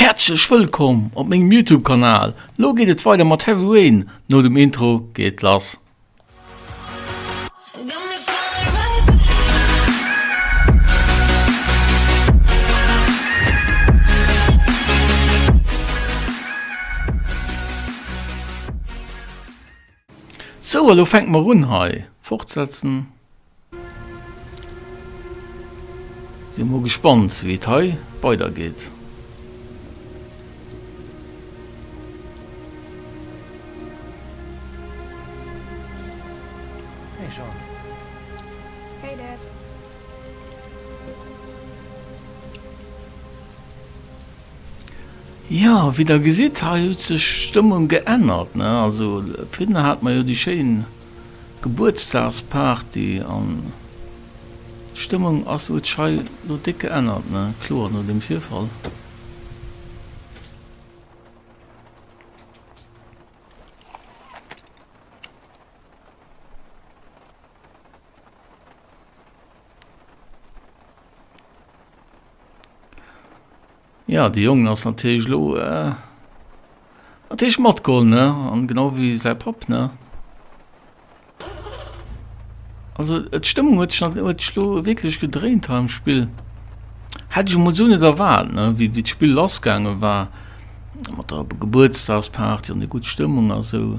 Häerzlech wëllkomm op mengem Youtube Kanal, lo geet et weider mat Heavy Rain, no dem Intro geet et lass. Sou, elo fänke mer un hei. Fortsetzen. Sinn mol gespannt, wéi et hei weidergeet. Jo, wéi der gesitt, hei huet sech d'Stëmmung geännert, ne? Also virhinner hate mer jo déi schéin Gebuertsdagsparty an d'Stëmmung ass, huet sech hei lo déck geännert, ne? Kloer, no deem Virfall. Ja, de Jong ass natierlech lo äh, natierlech matgeholl, ne? An genau wéi säi Papp, ne? Also d'Stëmmung huet sech huet sech lo wierklech gedréint hei am Spill. Hätt ech emol esou net erwaart, ne? Wéi d'Spill lassgaange war. Mat der Gebuertsdagsparty an der gutt Stëmmung a sou.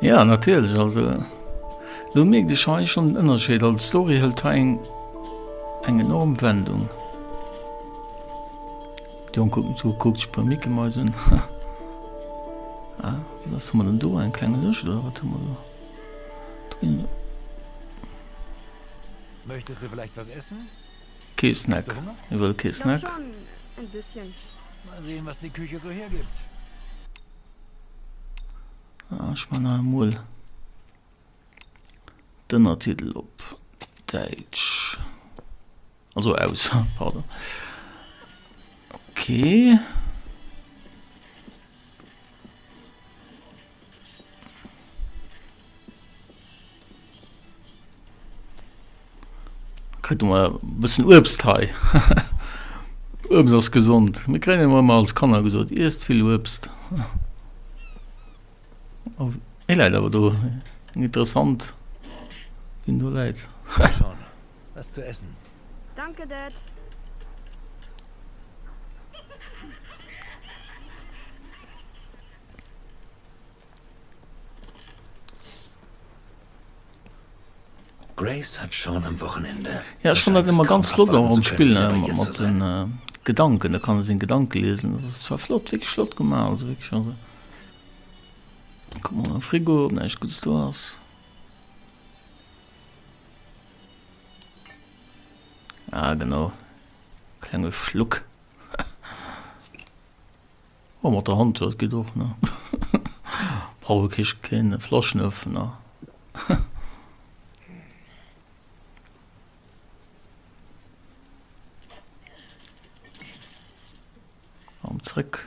Ja natierlech also lo mierkt ech hei schon den Ënnerscheed, also d'Story hëlt hei eng eng enorm Wendung. Déi Jonk kucken zu, kuckt sech e puer Mickey-Mäuse un. Ah, was hu mer denn do, eng kleng Lëscht oder wat hu mer do? Drin. Möchtest du vielleicht was essen? Kee Snack, e wëll kee Snack. Mal sehen was die Küche so hergibt. Ech man nach emol d'Ënnertitel op Däitsch, also aus, pardon. Ok. Kritt emmer e bëssen Uebst hei. Uebst ass gesond. Mir kréien emmer emmer als Kanner gesot, iesst vill Uebst. Oh, e läit awer do. Eng interessant, wien do läit. Komm schon, was zu essen. Danke, Dad. Grace hat schon am Wochenende. Ja, ech fann dat ëmmer ganz flott och am Spill mat de Gedanken. Da kann e seng Gedanke liesen. Dat ass zwar flott, wierklech flott gemaach, also wierklech. Also kuck mol am Frigo, ob näischt Guddes do ass. Ah, genau. Klenge Schluck. Oh mat der Hand dat geet och ne brauch e keen Flaschenöffener. An zréck.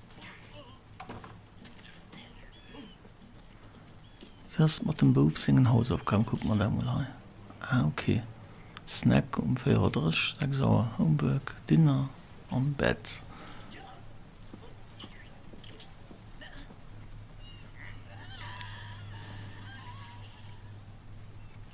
First mat dem Bouf sengen Hausaufgaben kucken, mat engem mol hei. Ah ok. Snack um 4 Auer 30, 6 Auer Homework, Dinner an Bett.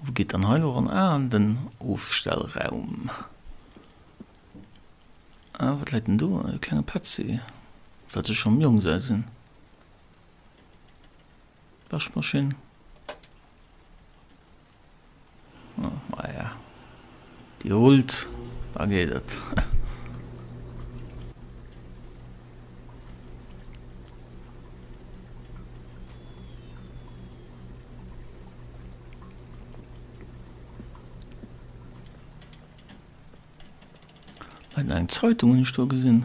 Wou geet dann hei elo ran? Ah, an den Ofstellraum. Ah, wat läit denn do? E klenge PC. Wat sech am Jong säi sinn. Waschmaschinn. Maja, déi rullt, da geet et. Eng Zeitung hunn ech do gesinn.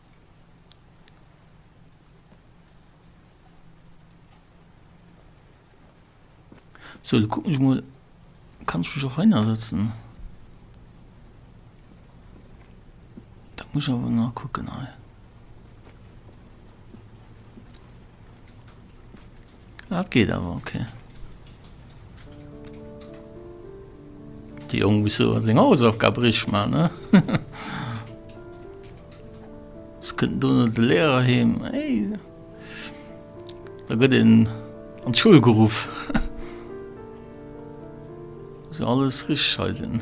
So lo kucken ech mol, kann ech mech och heinersetzen? Dat muss ech awer nach kucken hei. Dat geet awer ok. De Jong muss jo seng Hausaufgab richteg man, ne? Ës kënnt do no de Lehrer heem, hey! Da gëtt een an d'Schoul geruff. Muss jo alles richteg hei sinn.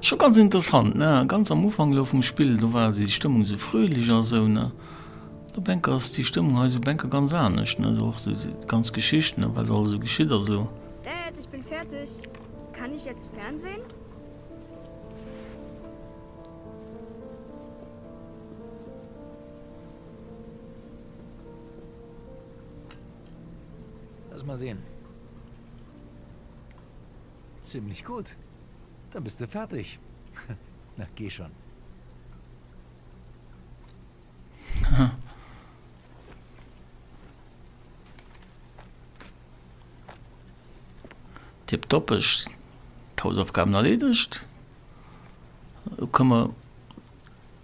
Scho ganz interessant, ne? Ganz am Ufank elo vum Spill, do war déi Stëmmung esou fröhlich a sou, ne? Do Bänker ass déi Stëmmung hei esou Bänker ganz anescht, ne? Sou och déi ganz Geschicht, ne? Wat alles esou geschitt a sou. Dad, ich bin fertig. Kann ich jetzt fernsehen? Lass mal sehen. Zimmlech gudd, dann bist de ferteg nach geh schon. Tip top, ech d'Hausaufgaben erledigt. Lo kënne mer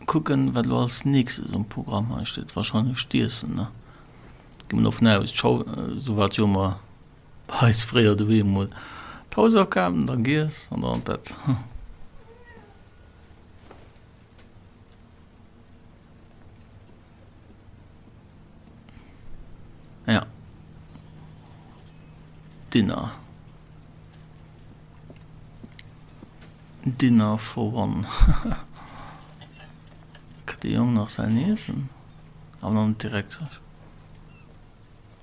kucken, wat lo als nächstes um Programm hei steet. Wahrscheinlech d'Iessen, ne? Gi mer dovun aus. D'Schau, sou wat jo mer Bei eis fréier doheem emol d'Haus akafen, dann giess an dann an d'Bett. Ja. Dinner. Dinner for one. Kritt de Jong nach säin Iessen? An dann direkt.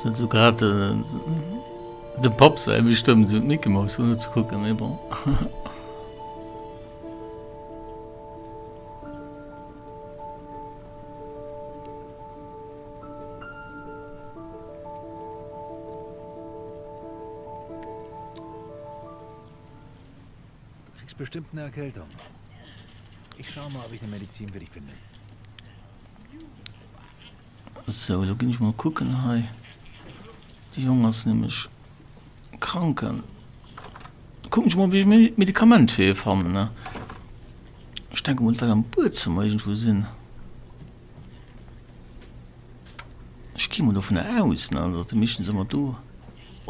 Sinn sou grad dem Papp säi wéi stëmmen sou d'Mickey Mouse un ze kucken, mee bon. Du kriss bestëmmt en Erkältung. Ech schaue mol, ob ech eng Medezin fir dech fannen. Sou, lo ginn ech mol kucken hei. De Jong ass nämlech krank an kucken ech mol, wéi ech méi Medikament fir hie fannen. Ech denke mol, et wäert am Buedzëmmer iergendwou sinn. Ech gi mol dovun aus, datt déi meeschtens ëmmer do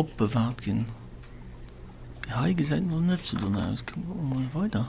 opbewaart ginn. Mee hei gesäit et mol net sou dono aus. Kucken mer mol weider.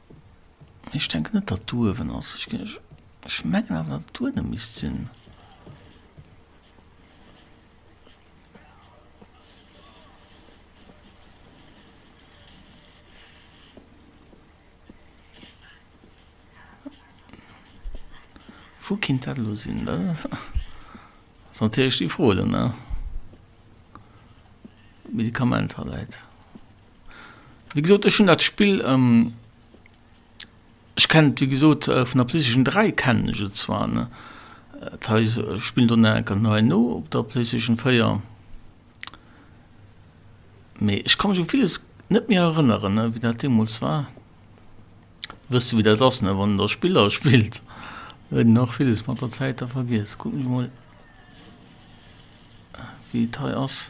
Ech denken net datt d'Uewen ass. Ech mengen awer datt et duene misst sinn. Wou kinnt dat elo sinn? Dat ass natierlech déi Fro elo ne? Medikament ha läit. Wéi gesot, ech hunn dat Spill, ech kenne et wéi gesot vun der PlayStation 3 kennen ech et zwar, ne, dat heist, ech spillen do nach eng Kéier nei no op der PlayStation 4, mee ech ka mech u villes net méi erënneren, ne, wéi dat deemools war. Dir wësst jo, wéi dat ass, ne, wann Der Spiller spillt, huet een och villes mat der Zäit da vergiess. Kucken ech mol, wéi et hei ass.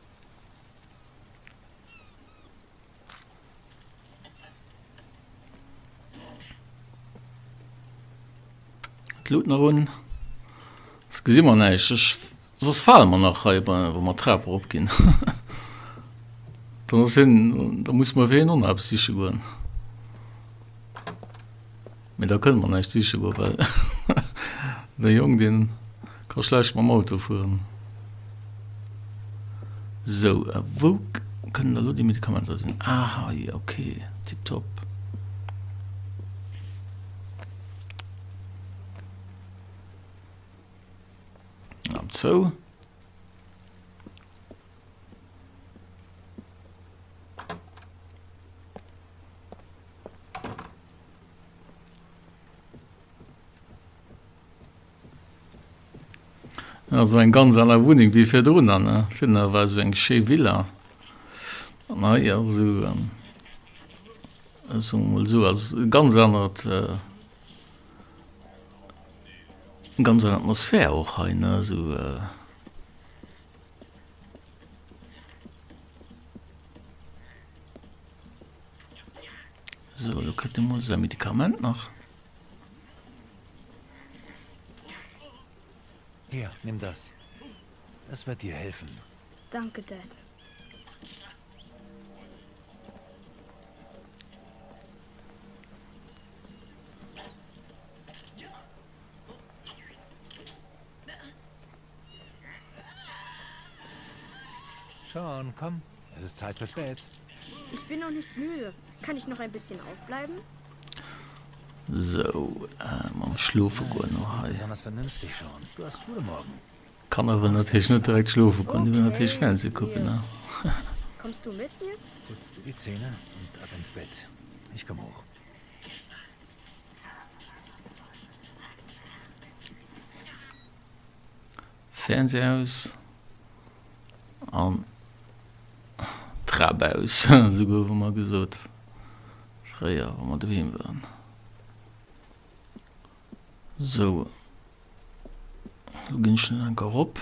Luut nach un Das gesi man neich ech sos fale man nach hei bei wo man Trap erop ginn Dann ass hin da muss man wéi en Onrap siche goen. Mee da kënne mer näischt siche goe well de Jong dee ka schlecht mam Auto fueren. Sou a wou kënnen da lo déi Medikamenter sinn? Ah hei, ok tiptop. Am zou. Also eng ganz aller Wunneng wie fir run an Finner war eso eng schéi Villa an hei as eso eso mol so als ganz anert äh, ganz an Atmosphär och hei ne eso. Äh, So, lo kritt e mol säi Medikament nach. Hier, nimm das. Das wird dir helfen. Danke, Dad. Sean, komm, es ist Zeit fürs Bett. Ich bin noch nicht müde. Kann ich noch ein bisschen aufbleiben? So, äh, mam Schlofe goen no hei. Besonders vernünftig, Sean. Du hast Schule morgen. Kann aber natürlich nicht direkt schlofe goen. Du will natürlich Fernseh gucken, ne? Kommst du mit mir? Putz dir die Zähne und ab ins Bett. Ich komm hoch. Fernseh aus an Trap aus, esou goufe mer gesot fréier wa mer doheem waren. Sou, elo ginn ech nach eng Kéier erop.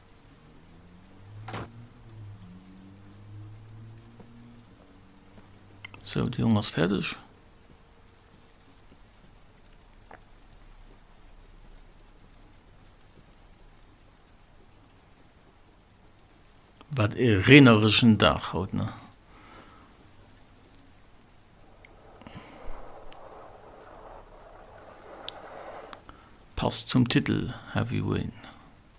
Sou, de Jong ass fäerdeg. Wat ee reenereschen Dag haut, ne? Passt zum Titel Heavy Rain.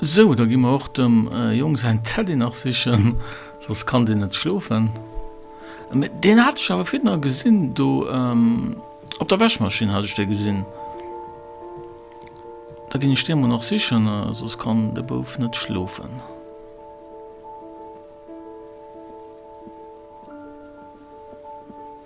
Sou, da gi mer och dem Jong säin Teddy nach sichen, soss kann deen net schlofen. Mä deen hat ech awer virdrun gesinn do, op der Wäschmaschinn hat ech dee gesinn. Da ginn ech dee mol nach sichen, soss kann de Bouf net schlofen.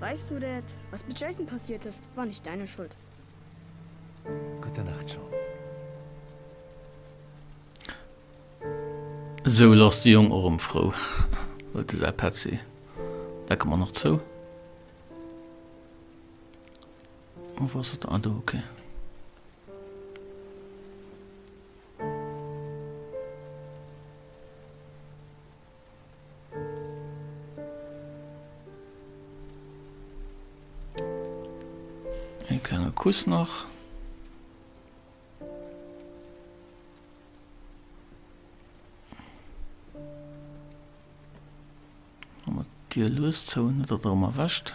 Weisst du dat was mit Jason passiert ist war nicht deine Schuld. Gute Nacht Sean. Esou lass de Jong erëm frou huet e säi Petzi, dat gëtt man och zou. A wou ass dat ah do ok. Een klenge Kuss nach. Dir lues zou net dat erëm erwächt.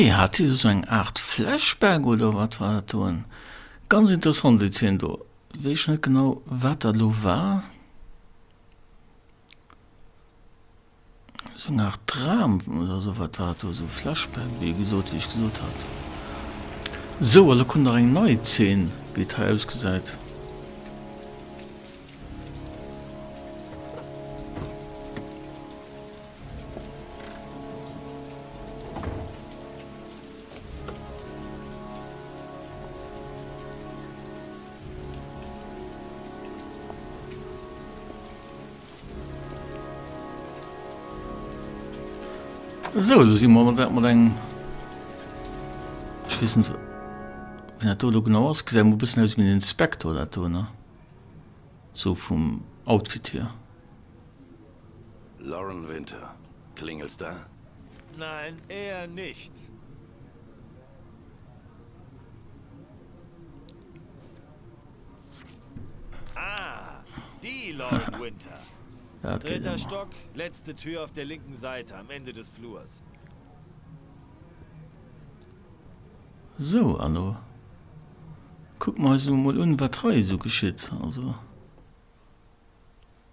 Okay, hat hie do sou eng Aart Flashback oder wat war dat do? En ganz interessant seet hien do. Weess net genau wat dat elo war. Seng Art Dram oder sou, wat war et do, sou Flashback, wéi e gesot, wéi ech gesot hat. Sou, a lo kommt nach eng nei Zeen, wéi et hei ausgesäit. So lo si mer dat mat eng wissen wenn dat do lo genau ass gesä mo bëssen aus wie den Inspektor dat do ne sou vum Outfit hier. Lauren Winter, klingelst da? Nein, eher nicht. Sou, an elo kucke mer eis emol un, wat hei esou geschitt.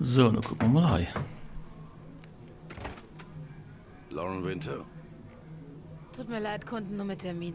Sou, lo kucke mer mol hei. Lauren Winter. Tut mir leid, konnten nur mit Termin.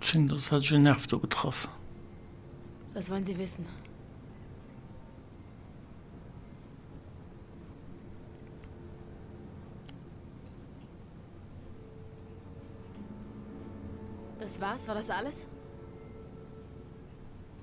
Schéngt als hätt ech en Nerv do getraff. Was wollen Sie wissen? Das war's? War das alles?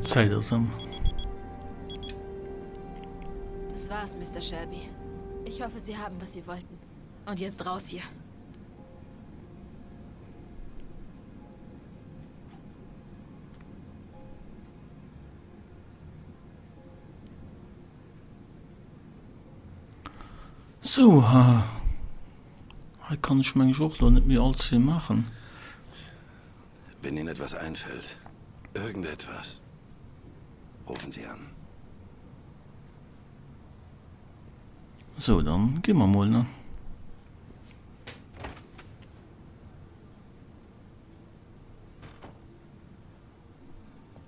Zeit ass ëm. Das war's, Mister Shelby. Ich hoffe, Sie haben, was Sie wollten. Und jetzt raus hier. So, ha. Hei kann ech mengen ech och lo net méi all zwee maachen. Wenn Ihnen etwas einfällt, irgendetwas, rufen Sie an. Sou, dann gi mer mol, ne?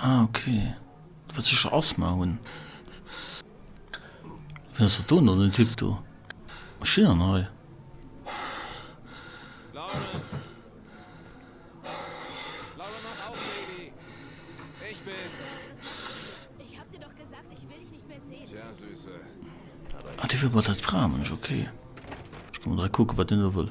Ah ok, du wëlls sécher Asthma hunn. Wien ass dat do no, den Typ do? Wat steet dann hei? Ah dee wëll bei dat Fraeménsch, ok. Ech ka mol dra kucken, wat deen do wëll.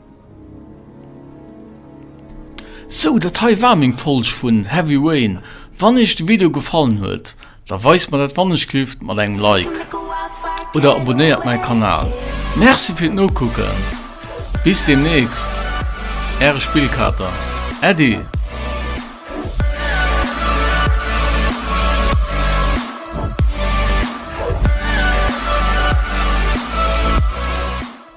Sou dat hei war meng Folg vun Heavy Rain, wann eech de Video gefallen huet da weist mer dat wannechlift mat engem Like oder abonéiert mäi Kanal. Merci fir d'Nokucken, bis demnächst äre Spillkater Äddi.